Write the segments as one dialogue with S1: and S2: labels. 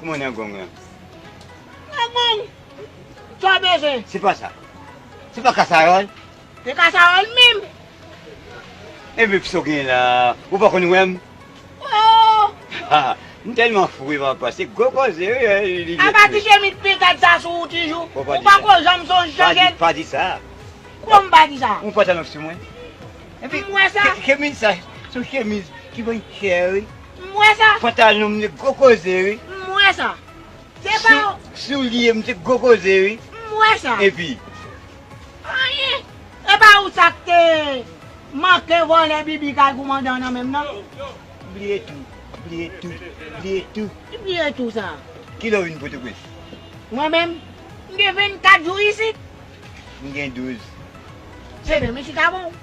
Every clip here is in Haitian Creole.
S1: Kouman nan
S2: gong lan? Nan
S1: gong! Sa w bezwen? Se pa sa.
S2: Se pa kasaròl? Se kasaròl
S1: menm!
S2: Enben kisa w genyen la a? Ou pa konn wè m? Oo!
S1: Ha!
S2: M tèlman fou e papa, se gwo koze wi li vle di. Apa ti chemiz
S1: pentad sa sou ou toujou? Ou pa ko janm sonje chanje l? Pa di sa!
S2: Kouman m pa di
S1: sa? Ou gen pantalon sou mwen?
S2: M wè sa! Chemiz sa,
S1: se
S2: yon chemiz ki vann chè wi. M wè sa.
S1: Pantalon m se gwo
S2: koze wi. M wè sa.
S1: Se pa w. Soulye m se gwo
S2: koze wi. M wè sa. Epi. Anyen.
S1: E pa ou sa k te manke vòlè bibi kay koumandan an nan menm nan? Bliye tou.
S2: Bliye tou. Bliye tou. Ki bliye tou sa?
S1: Ki lè w vin Pòtoprens?
S2: Mwen menm?
S1: M gen 24 jou isit. M gen 12.
S2: Se
S1: menm isit avè w.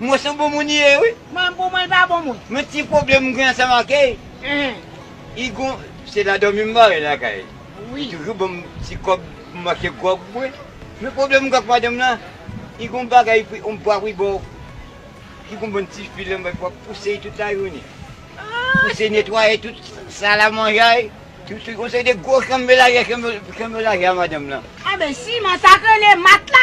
S1: Mwen son
S2: bon moun ye wi. Mwen bon mwen pa bon
S1: moun. Men ti pwoblem mwen gen
S2: ansanm ak Ey. Li gon se la domi m bare lakay. Li toujou
S1: banm ti
S2: kob pou m achte grog pou bwe. Men pwoblem mwen gen ak madanm lan li gon bagay yon bwa wi bò ki gon bon ti fil anba li pou ap pouse li tout la jounen. Pouse netwaye tout sal a manjay. Yon seri de gwo chanm melaje chanm melaje a madanm lan. Anben siman sak
S1: rele matla.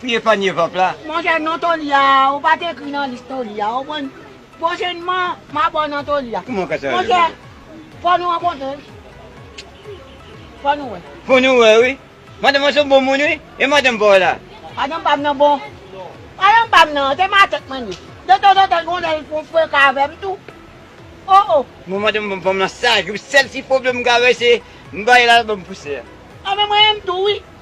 S2: Pu epanye vant la. Monchè non Tony a
S1: ou pat ekri nan lis Tony a ou konprann pwochenman map wè w nan Tony a Kouman w ka chanje non. Monchè fò nou rankontre wi fò nou wè. Fò nou wè wi
S2: Madanm an son bon moun wi e madanm pa w la. Madanm pam nan bon.
S1: Madanm pam nan se ma tèt mwen li ye. De tanzantan gon lè li fon freka avèm tou oh oh. Mwen madanm
S2: pam nan saj wi sèl ti pwoblèm m ka wè se m bay la lap banm pousè. Anben mwen menm
S1: tou wi.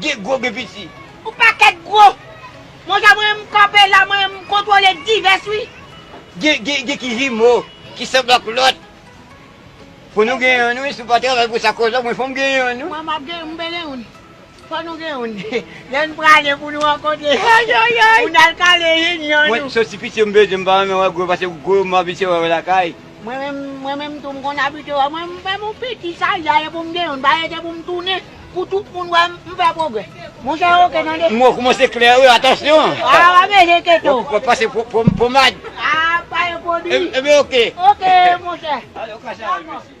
S1: Gen gwo gen piti.
S2: Ou pa ket
S1: gwo. Mon cher mwen menm kanpe la mwen menm m kontrole divès wi. Gen gen gen
S2: ki jimo ki sanble ak lot. Fo nou gen youn wi si w pa travay pou sa koz mwen fo m gen youn wi. Mwen map gen youn m bele
S1: youn. Fo nou gen youn. Lè n prale pou nou rankontre pou n al kale youn youn. Mwen soti piti yo m
S2: bezwen m pa renmen wè gwo pase gwo m abitye wè yo lakay. Mwen menm, mwen menm
S1: tou m konn abitye wè mwen m fè m yon piti saja e pou m gen youn pa rete pou m tounen pou tout moun wè m fè pwogrè. Monchè ok tande. Mo kman se klè wi
S2: atansyon. Ah wap ede
S1: keto. Wap pase
S2: pomad. Ah
S1: wap
S2: pase pwodwi.
S1: Ebyen ok. Ok monchè.
S2: Alon
S1: kasa al mesye.